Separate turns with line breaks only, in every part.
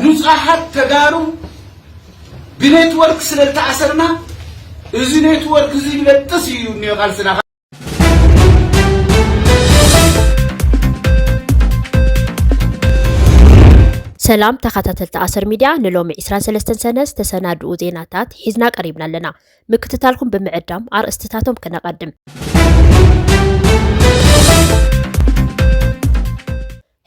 ንፁሃት ተጋሩ ብኔትወርክ ስለ ዝተኣሰርና እዚ ኔትወርክ እዚ ይበጥስ እዩ እኒኦ ቃልስና
ሰላም ተኸታተልቲ ኣሰር ሚድያ ንሎሚ 23 ሰነ ዝተሰናድኡ ዜናታት ሒዝና ቀሪብና ኣለና። ምክትታልኩም ብምዕዳም ኣርእስትታቶም ክነቐድም።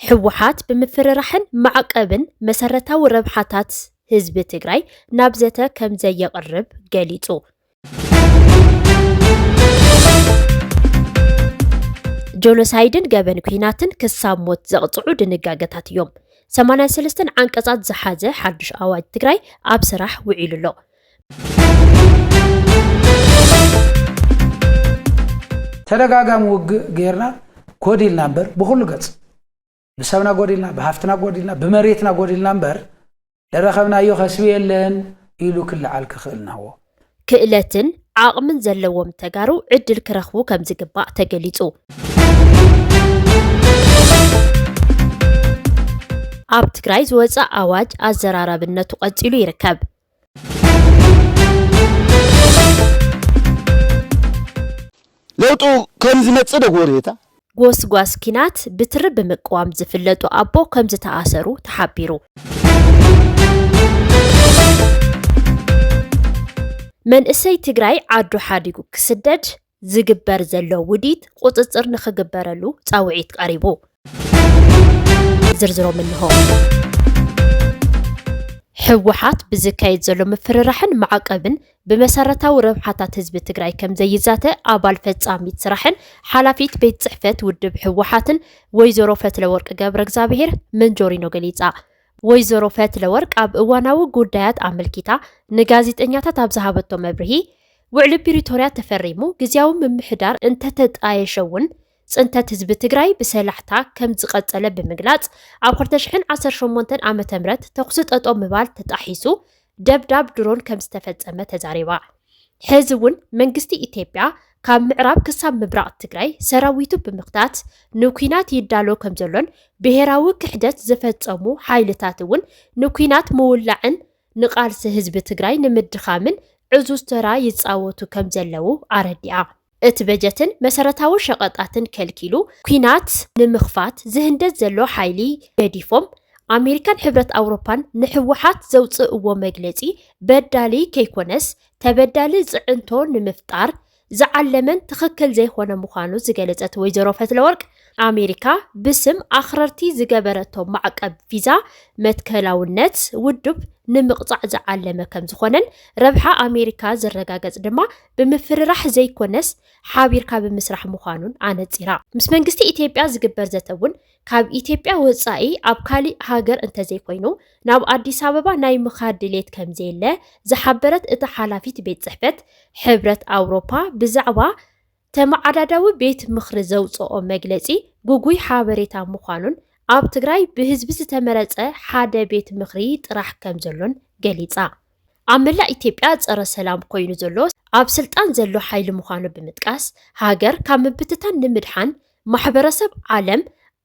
ህወሓት ብምፍርራሕን ማዕቐብን መሰረታዊ ረብሓታት ህዝቢ ትግራይ ናብ ዘተ ከምዘየቕርብ ገሊፁ። ጆኖሳይድን ገበን ኩናትን ክሳብ ሞት ዘቕፅዑ ድንጋገታት እዮም። 83 ዓንቀፃት ዝሓዘ ሓዱሽ ኣዋጅ ትግራይ ኣብ ስራሕ ውዒሉ ኣሎ።
ተደጋጋሚ ውግእ ጌርና ጎዲልና እምበር ብኩሉ ገጽ ብሰብና ጎዲልና ብሃፍትና ጎዲልና ብመሬትና ጎዲልና እምበር ደረኸብናዮ ከስቢ የለን ኢሉ ክልዓል ክኽእል ናዎ ክእለትን
ዓቕምን ዘለዎም ተጋሩ ዕድል ክረኽቡ ከም ዝግባእ ተገሊጹ። ኣብ ትግራይ ዝወፀ ኣዋጅ ኣዘራራብነቱ ቀፂሉ ይርከብ።
ለውጡ ከም ዝመጽእ ዶ ጎሬታ ጎስጓስ
ኪናት ብትሪ ብምቅዋም ዝፍለጡ ኣቦ ከምዝተኣሰሩ ተሓቢሩ። መንእሰይ ትግራይ ዓዱ ሓዲጉ ክስደድ ዝግበር ዘሎ ውዲት ቁፅፅር ንክግበረሉ ፃውዒት ቀሪቡ። ዝርዝሮም እንሆ። ህወሓት ብዝካየድ ዘሎ ምፍርራሕን ማዕቀብን ብመሰረታዊ ረብሓታት ህዝቢ ትግራይ ከም ዘይዛተ ኣባል ፈጻሚት ስራሕን ሓላፊት ቤት ጽሕፈት ውድብ ህወሓትን ወይዘሮ ፈትለወርቅ ገብረ እግዚኣብሄር መንጆሪኖ ገሊጻ። ወይዘሮ ፈትለወርቅ ኣብ እዋናዊ ጉዳያት ኣመልኪታ ንጋዜጠኛታት ኣብ ዝሃበቶ መብርሂ፣ ውዕሊ ፕሪቶርያ ተፈሪሙ ግዝያዊ ምምሕዳር እንተተጣየሸ እውን ፅንተት ህዝቢ ትግራይ ብሰላሕታ ከም ዝቐፀለ ብምግላፅ፣ ኣብ ክልተ ሽሕን ዓሰርተ ሸሞንተን ዓመተ ምህረት ተኹሲ ጠጠው ምባል ተጣሒሱ ደብዳብ ድሮን ከም ዝተፈፀመ ተዛሪባ። ሕዚ እውን መንግስቲ ኢትዮጵያ ካብ ምዕራብ ክሳብ ምብራቕ ትግራይ ሰራዊቱ ብምኽታት ንኲናት ይዳሎ ከምዘሎን ብሄራዊ ክሕደት ዝፈፀሙ ሓይልታት እውን ንኲናት ምውላዕን ንቓልሲ ህዝቢ ትግራይ ንምድኻምን ዕዙዝ ተራ ይፃወቱ ከምዘለዉ ኣረዲኣ። እቲ በጀትን መሰረታዊ ሸቐጣትን ከልኪሉ ኲናት ንምኽፋት ዝህንደድ ዘሎ ሓይሊ ገዲፎም ኣሜሪካን ሕብረት ኣውሮፓን ንህወሓት ዘውፅእዎ መግለፂ በዳሊ ከይኮነስ ተበዳሊ ፅዕንቶ ንምፍጣር ዝዓለመን ትኽክል ዘይኾነ ምዃኑ ዝገለፀት ወይዘሮ ፈትለወርቅ ኣሜሪካ ብስም ኣኽረርቲ ዝገበረቶ ማዕቀብ ቪዛ መትከላውነት ውድብ ንምቕፃዕ ዝዓለመ ከምዝኾነን ረብሓ ኣሜሪካ ዝረጋገፅ ድማ ብምፍርራሕ ዘይኮነስ ሓቢርካ ብምስራሕ ምዃኑን ኣነፂራ። ምስ መንግስቲ ኢትዮጵያ ዝግበር ዘተ እውን ካብ ኢትዮጵያ ወፃኢ ኣብ ካሊእ ሃገር እንተዘይኮይኑ ናብ ኣዲስ ኣበባ ናይ ምኻድ ድሌት ከምዘየለ ዝሓበረት እታ ሓላፊት ቤት ፅሕፈት ሕብረት ኣውሮፓ ብዛዕባ ተመዓዳዳዊ ቤት ምኽሪ ዘውፅኦ መግለፂ ጉጉይ ሓበሬታ ምዃኑን ኣብ ትግራይ ብህዝቢ ዝተመረፀ ሓደ ቤት ምኽሪ ጥራሕ ከምዘሎን ገሊፃ። ኣብ መላእ ኢትዮጵያ ፀረ ሰላም ኮይኑ ዘሎ ኣብ ስልጣን ዘሎ ሓይሊ ምዃኑ ብምጥቃስ ሃገር ካብ ምብትታን ንምድሓን ማሕበረሰብ ዓለም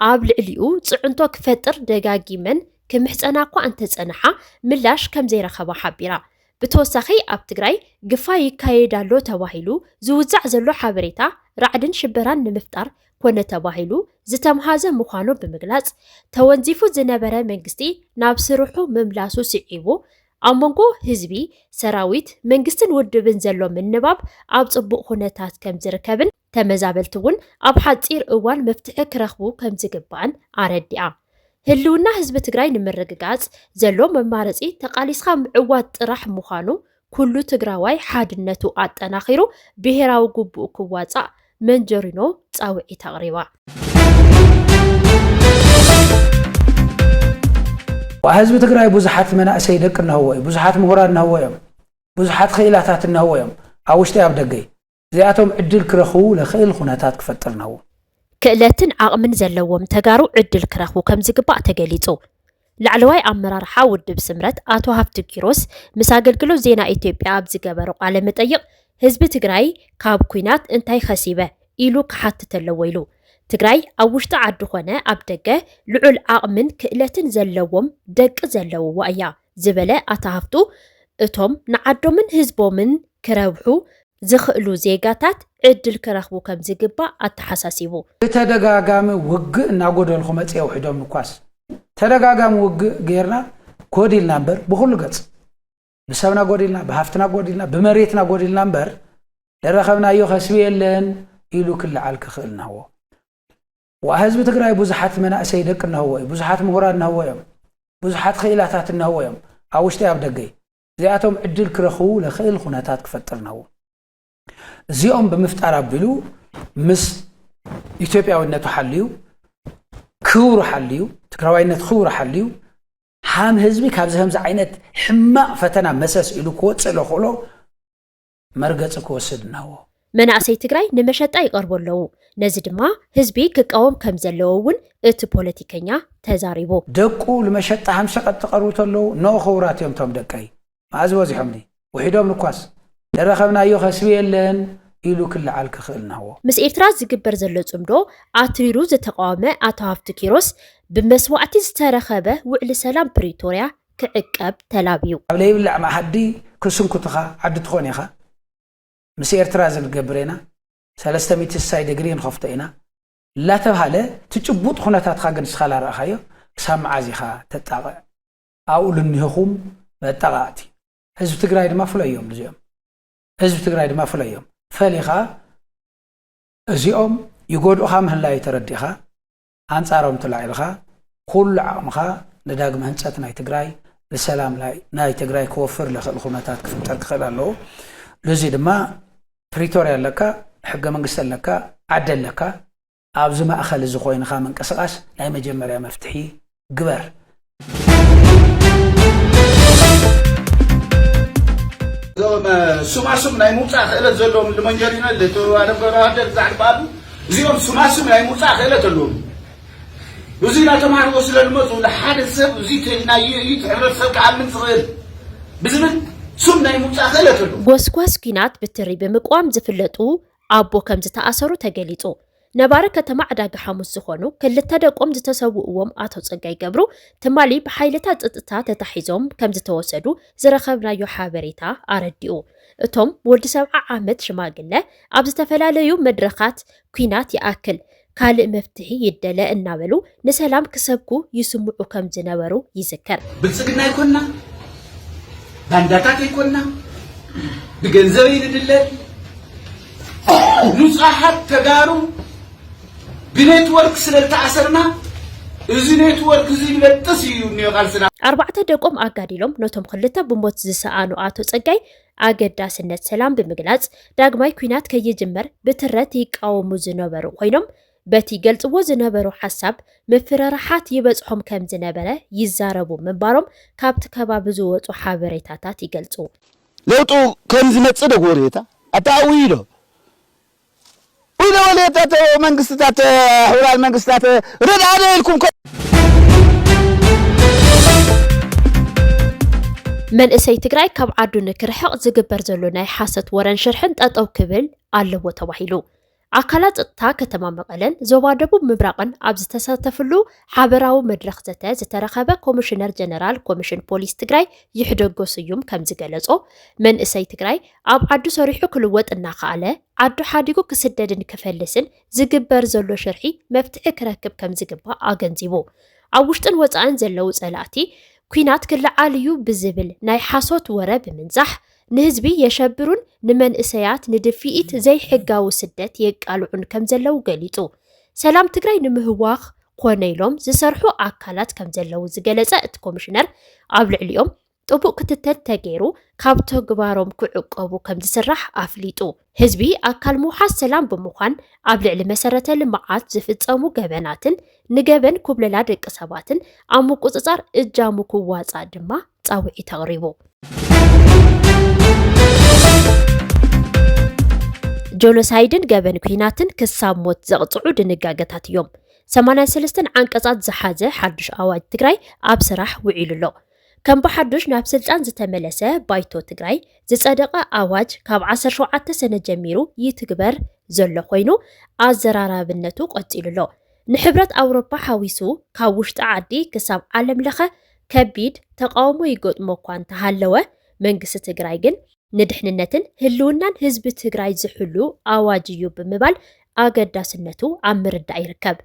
ኣብ ልዕሊኡ ፅዕንቶ ክፈጥር ደጋጊመን ክምሕፀና እኳ እንተፀንሓ ምላሽ ከምዘይረኸባ ሓቢራ። ብተወሳኺ ኣብ ትግራይ ግፋ ይካየድ ኣሎ ተባሂሉ ዝውዛዕ ዘሎ ሓበሬታ ራዕድን ሽበራን ንምፍጣር ኮነ ተባሂሉ ዝተምሃዘ ምዃኑ ብምግላፅ፣ ተወንዚፉ ዝነበረ መንግስቲ ናብ ስርሑ ምምላሱ ስዒቡ ኣብ መንጎ ህዝቢ፣ ሰራዊት፣ መንግስትን ውድብን ዘሎ ምንባብ ኣብ ፅቡቕ ኩነታት ከምዝርከብን ተመዛበልቲ እውን ኣብ ሓፂር እዋን መፍትሒ ክረኽቡ ከምዝግባእን ኣረዲኣ። ህልውና ህዝቢ ትግራይ ንምርግጋፅ ዘሎ መማረፂ ተቓሊስኻ ምዕዋት ጥራሕ ምዃኑ ኩሉ ትግራዋይ ሓድነቱ ኣጠናኺሩ ብሄራዊ ጉቡኡ ክዋፃእ መንጀሪኖ ፃውዒት ኣቕሪባ።
ህዝቢ ትግራይ ብዙሓት መናእሰይ ደቂ እነህዎ እዩ። ብዙሓት ምሁራን እነህዎ እዮም። ብዙሓት ክኢላታት እነህዎ እዮም። ኣብ ውሽጢ ኣብ ደገይ እዚኣቶም ዕድል ክረኽቡ ለኽእል ኹነታት ክፈጥር ነዉ። ክእለትን
ዓቕምን ዘለዎም ተጋሩ ዕድል ክረኽቡ ከምዝግባእ ተገሊፁ። ላዕለዋይ ኣመራርሓ ውድብ ስምረት ኣቶ ሃፍቱ ኪሮስ ምስ ኣገልግሎት ዜና ኢትዮጵያ ኣብ ዝገበሮ ቃለ መጠይቕ ህዝቢ ትግራይ ካብ ኲናት እንታይ ኸሲበ ኢሉ ክሓትት ኣለዎ ኢሉ። ትግራይ ኣብ ውሽጢ ዓዲ ኾነ ኣብ ደገ ልዑል ዓቕምን ክእለትን ዘለዎም ደቂ ዘለውዋ እያ። ዝበለ ኣታ ሃፍቱ እቶም ንዓዶምን ህዝቦምን ክረብሑ ዝኽእሉ ዜጋታት ዕድል ክረኽቡ ከምዝግባእ ኣተሓሳሲቡ። ብተደጋጋሚ
ውግእ እናጎደልኹ መፂኤ ውሒዶም ንኳስ ተደጋጋሚ ውግእ ገይርና ጎዲልና እምበር ብኹሉ ገፅ ብሰብና ጎዲልና ብሃፍትና ጎዲልና ብመሬትና ጎዲልና እምበር ደረኸብናዮ ከስቢ የለን ኢሉ ክለዓል ክኽእል ናዎ ዋእ ህዝቢ ትግራይ ቡዙሓት መናእሰይ ደቂ እነሀዎ እዩ ቡዙሓት ሙሁራት እነሀዎ እዮም ቡዙሓት ኽኢላታት እነሀዎ እዮም ኣብ ውሽጢይ ኣብ ደገይ እዚኣቶም ዕድል ክረኽቡ ለኽእል ኹነታት ክፈጥር እነሀዎ እዚኦም ብምፍጣር ኣቢሉ ምስ ኢትዮጵያዊነቱ ሓልዩ ክብሩ ሓልዩ ትግራዋይነት ክብሩ ሓልዩ ሃም ህዝቢ ካብዚ ከምዚ ዓይነት ሕማቕ ፈተና መሰስ ኢሉ ክወፅእ ለኽእሎ መርገፂ ክወስድ እናዎ። መናእሰይ ትግራይ
ንመሸጣ ይቐርቡ ኣለዉ። ነዚ ድማ ህዝቢ ክቃወም ከምዘለዎ እውን እቲ ፖለቲከኛ ተዛሪቡ። ደቁ ልመሸጣ
ሃም ሸቐጥ ዝቐርቡ ተለዉ ን ኽውራት እዮም እቶም ደቀይ መኣዝ በዚሖምኒ ውሒዶም ንኳስ ደረኸብናዮ ኸስቢ የለን ኢሉ ክለዓል ክኽእል ናዎ። ምስ ኤርትራ ዝግበር
ዘሎ ፅምዶ ኣትሪሩ ዝተቓወመ ኣቶ ሃፍቱ ኪሮስ፣ ብመስዋእቲ ዝተረኸበ ውዕሊ ሰላም ፕሪቶርያ ክዕቀብ ተላብዩ። ኣብ ለይብላዕ መኣዲ
ክስንኩትኻ ዓዲ ትኾን ኢኻ ምስ ኤርትራ እዚ ንገብር ኢና ሰለስተ ሚእቲ ስሳይ ደግሪ ንኸፍቶ ኢና እላተብሃለ እቲ ጭቡጥ ኹነታትኻ ግን ንስኻ ላረኣኻዮ ክሳብ መዓዝ ኢኻ ተጣቕዕ ኣብኡ ልኒህኹም መጣቓቕቲ ህዝቢ ትግራይ ድማ ፍለዮም ልዚኦም ህዝቢ ትግራይ ድማ ፍለዮም ፈሊኻ እዚኦም ይጎድኡኻ ምህላዩ ተረዲእኻ ኣንጻሮም ተላዒልኻ ኩሉ ዓቕምኻ ንዳግመ ህንጸት ናይ ትግራይ ንሰላም ናይ ትግራይ ክወፍር ለኽእል ኩነታት ክፍጠር ክኽእል ኣለዎ። ልዙይ ድማ ፕሪቶርያ ኣለካ፣ ሕገ መንግስቲ ኣለካ፣ ዓዲ ኣለካ፣ ኣብዚ ማእኸል እዚ ኮይንኻ ምንቅስቓስ ናይ መጀመርያ መፍትሒ ግበር
እዞም ሱማሱም ናይ ምውፃእ ክእለት ዘለዎም ልመንጀሪኖ ልተዋለም ገብረዋህደር ዛዕልበኣሉ እዚኦም ሱማሱም ናይ ምውፃእ ክእለት ኣለዎም ብዙ እናተማሃርዎ ስለ ዝመፁ ንሓደ ሰብ እዚ ተናዩ እዩ ሕብረተሰብ ክኣምን ዝኽእል ብዝብል ሱም ናይ ምውፃእ ክእለት ኣለዎም ጎስጓስ ኲናት
ብትሪ ብምቅዋም ዝፍለጡ ኣቦ ከምዝተኣሰሩ ተገሊፁ። ነባሪ ከተማ ዕዳጋሓሙስ ዝኾኑ ክልተ ደቆም ዝተሰውእዎም ኣቶ ፀጋይ ገብሩ ትማሊ ብሓይልታት ፅጥታ ተታሒዞም ከምዝተወሰዱ ዝረኸብናዮ ሓበሬታ ኣረዲኡ። እቶም ወዲ ሰብዓ ዓመት ሽማግለ ኣብ ዝተፈላለዩ መድረኻት ኲናት ይኣክል ካልእ መፍትሒ ይደለ እናበሉ ንሰላም ክሰብኩ ይስምዑ ከም ዝነበሩ ይዝከር። ብልፅግና ኣይኮንና፣
ባንዳታት ኣይኮንና፣ ብገንዘብ ኣይንድለን፣ ንፁሃት ተጋሩ ብኔትወርክ ስለ ዝተኣሰርና እዚ ኔትወርክ እዚ ይበጥስ እዩ እኒኦ ቃልስና። ኣርባዕተ ደቆም ኣጋዲሎም
ነቶም ክልተ ብሞት ዝሰኣኑ ኣቶ ፀጋይ ኣገዳስነት ሰላም ብምግላፅ ዳግማይ ኩናት ከይጅመር ብትረት ይቃወሙ ዝነበሩ ኮይኖም በቲ ይገልፅዎ ዝነበሩ ሓሳብ ምፍርራሓት ይበፅሖም ከም ዝነበረ ይዛረቡ ምንባሮም ካብቲ ከባቢ ዝወፁ ሓበሬታታት ይገልፁ። ለውጡ
ከም ዝመፅእ ዶ ክወርየታ ኣታ ኣውይሎ ኢለ ወልየታተ መንግስትታተ ሕቡራን መንግስታተ ርድኣነ ኢልኩም ከ
መንእሰይ ትግራይ ካብ ዓዱ ንክርሕቕ ዝግበር ዘሎ ናይ ሓሰት ወረን ሽርሕን ጠጠው ክብል ኣለዎ ተባሂሉ። ኣካላት ፀጥታ ከተማ መቐለን ዞባ ደቡብ ምብራቕን ኣብ ዝተሳተፍሉ ሓበራዊ መድረኽ ዘተ ዝተረኸበ ኮሚሽነር ጀነራል ኮሚሽን ፖሊስ ትግራይ ይሕደጎ ስዩም ከም ዝገለጾ መንእሰይ ትግራይ ኣብ ዓዱ ሰሪሑ ክልወጥ እናኸኣለ ዓዱ ሓዲጉ ክስደድን ክፈልስን ዝግበር ዘሎ ሽርሒ መፍትሒ ክረክብ ከምዝግባእ ኣገንዚቡ። ኣብ ውሽጥን ወፃእን ዘለው ፀላእቲ ኲናት ክለዓል እዩ ብዝብል ናይ ሓሶት ወረ ብምንዛሕ ንህዝቢ የሸብሩን ንመንእሰያት ንድፍኢት ዘይሕጋዊ ስደት የቃልዑን ከምዘለው ገሊፁ። ሰላም ትግራይ ንምህዋኽ ኮነ ኢሎም ዝሰርሑ ኣካላት ከምዘለው ዝገለፀ እቲ ኮሚሽነር ኣብ ልዕሊኦም ጥቡቕ ክትትል ተገይሩ ካብ ተግባሮም ክዕቆቡ ከምዝስራሕ ኣፍሊጡ። ህዝቢ ኣካል ምውሓስ ሰላም ብምዃን ኣብ ልዕሊ መሰረተ ልምዓት ዝፍፀሙ ገበናትን ንገበን ኩብለላ ደቂ ሰባትን ኣብ ምቁፅፃር እጃሙ ክዋፃእ ድማ ፃውዒት ኣቕሪቡ። ጆኖሳይድን ገበን ኩናትን ክሳብ ሞት ዘቕፅዑ ድንጋገታት እዮም። ሰማንያን ሰለስተን ዓንቀፃት ዝሓዘ ሓዱሽ ኣዋጅ ትግራይ ኣብ ስራሕ ውዒሉ ኣሎ። ከም ብሓዱሽ ናብ ስልጣን ዝተመለሰ ባይቶ ትግራይ ዝፀደቐ ኣዋጅ ካብ ዓሰርተ ሸውዓተ ሰነ ጀሚሩ ይትግበር ዘሎ ኮይኑ ኣዘራራብነቱ ቀፂሉ ኣሎ። ንሕብረት ኣውሮፓ ሓዊሱ ካብ ውሽጢ ዓዲ ክሳብ ዓለም ለኸ ከቢድ ተቃውሞ ይገጥሞ እኳ እንተሃለወ መንግስቲ ትግራይ ግን ንድሕንነትን ህልውናን ህዝቢ ትግራይ ዝሕሉ ኣዋጅ እዩ ብምባል ኣገዳስነቱ ኣብ ምርዳእ ይርከብ።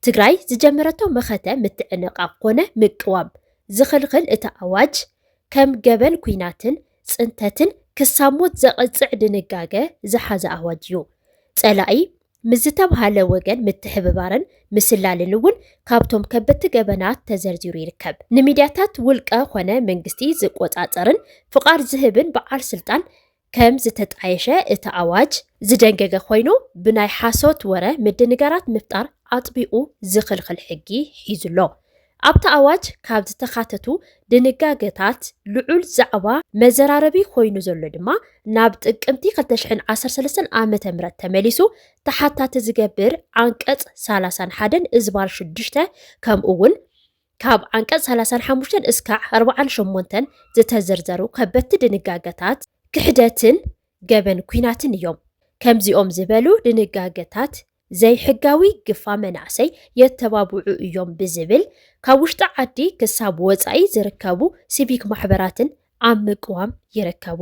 ትግራይ ዝጀመረቶ መኸተ ምትዕንቓቕ ኮነ ምቅዋም ዝኽልኽል እቲ ኣዋጅ ከም ገበን ኲናትን ፅንተትን ክሳብ ሞት ዘቕፅዕ ድንጋገ ዝሓዘ ኣዋጅ እዩ። ፀላኢ ምስ ዝተብሃለ ወገን ምትሕብባርን ምስላልን እውን ካብቶም ከበድቲ ገበናት ተዘርዚሩ ይርከብ። ንሚድያታት ውልቀ ኮነ መንግስቲ ዝቆፃፀርን ፍቓድ ዝህብን በዓል ስልጣን ከም ዝተጣየሸ እቲ ኣዋጅ ዝደንገገ ኮይኑ ብናይ ሓሶት ወረ ምድንጋራት ምፍጣር ኣጥቢቑ ዝኽልኽል ሕጊ ሒዙ ኣሎ። ኣብቲ ኣዋጅ ካብ ዝተኻተቱ ድንጋገታት ልዑል ዛዕባ መዘራረቢ ኮይኑ ዘሎ ድማ ናብ ጥቅምቲ ክልተ ሽሕን ዓሰርተ ሰለስተን ዓመተ ምህረት ተመሊሱ ተሓታቲ ዝገብር ዓንቀፅ ሰላሳን ሓደን እዝባር ሽዱሽተ ከምኡ እውን ካብ ዓንቀፅ ሰላሳን ሓሙሽተን እስካዕ ኣርብዓን ሸሞንተን ዝተዘርዘሩ ከበድቲ ድንጋገታት ክሕደትን ገበን ኩናትን እዮም። ከምዚኦም ዝበሉ ድንጋገታት ዘይሕጋዊ ግፋ መናእሰይ የተባብዑ እዮም ብዝብል ካብ ውሽጢ ዓዲ ክሳብ ወፃኢ ዝርከቡ ሲቪክ ማሕበራትን ኣብ ምቅዋም ይርከቡ።